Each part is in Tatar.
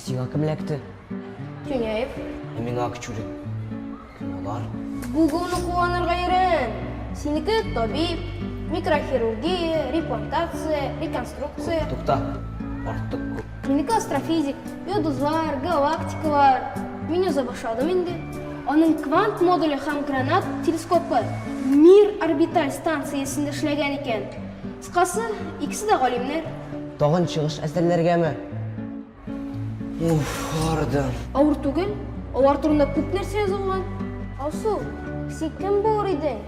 Сиңа кем эләкте? Тюняев. Ә миңа Акчурин. Кем алар? Гуглны куанырга өйрән. Синеке табиб, микрохирургия, репортация, реконструкция. Тукта. Артык күп. Минеке астрофизик, йолдызлар, галактикалар. Мин яза башладым инде. Аның квант модуле һәм гранат телескопы Мир орбиталь станциясендә эшләгән икән. Кыскасы, икесе дә галимнәр. Тагын чыгыш әзерләргәме? Уф, ардым. Авыр түгел, алар турында күп нәрсә язылган. Алсу, син кем булыр идең?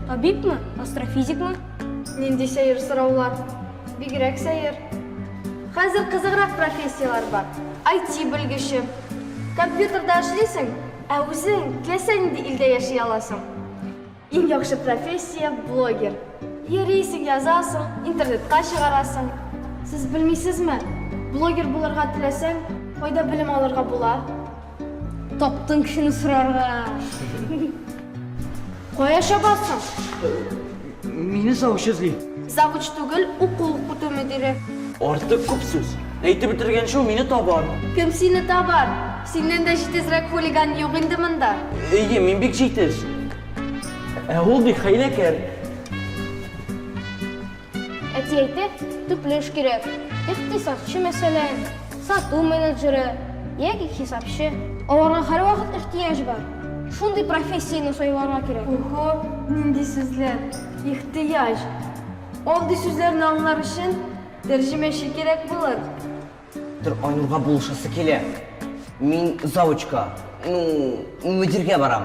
Табибмы? Астрофизикмы? Нинди сәер сораулар. Бигрәк сәер. Хәзер кызыграк профессияләр бар. IT белгече. Компьютерда эшлисең, ә үзең теләсә нинди илдә яши аласың. Иң яхшы профессия блогер. Йөрисең, язасың, интернетка чыгарасың. Сез белмисезме, блогер булырга теләсәң, кайда белем алырга була? Таптың кешене сорарга. Кая чабасың? Мине завуч эзли. Завуч түгел, уку укыту мөдире. Артык күп сүз. Әйтеп бетергәнче ул мине табар. Кем сине табар? Синнән дә җитезрәк хулиган юк инде монда. Әйе, мин бик җитез. Ә ул бик хәйләкәр. Әти әйтә, төпле эш кирәк. Икътисадчы, мәсәлән, сату менеджеры яки хисапчы. Аларга һәрвакыт ихтыяҗ бар. Шундый профессияне сайларга кирәк. Охо, нинди сүзләр! Ихтыяҗ! Андый сүзләрне аңлар өчен тәрҗемәче кирәк булыр. Тор, Айнурга булышасы килә. Мин завучка, ну, мөдиргә барам,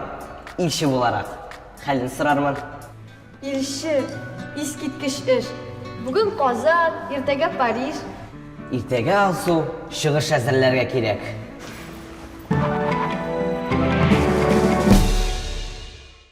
илче буларак. Хәлен сорармын. Илче, искиткеч эш! Бүген Казан, иртәгә Париж. Иртәгә Алсу, чыгыш әзерләргә кирәк.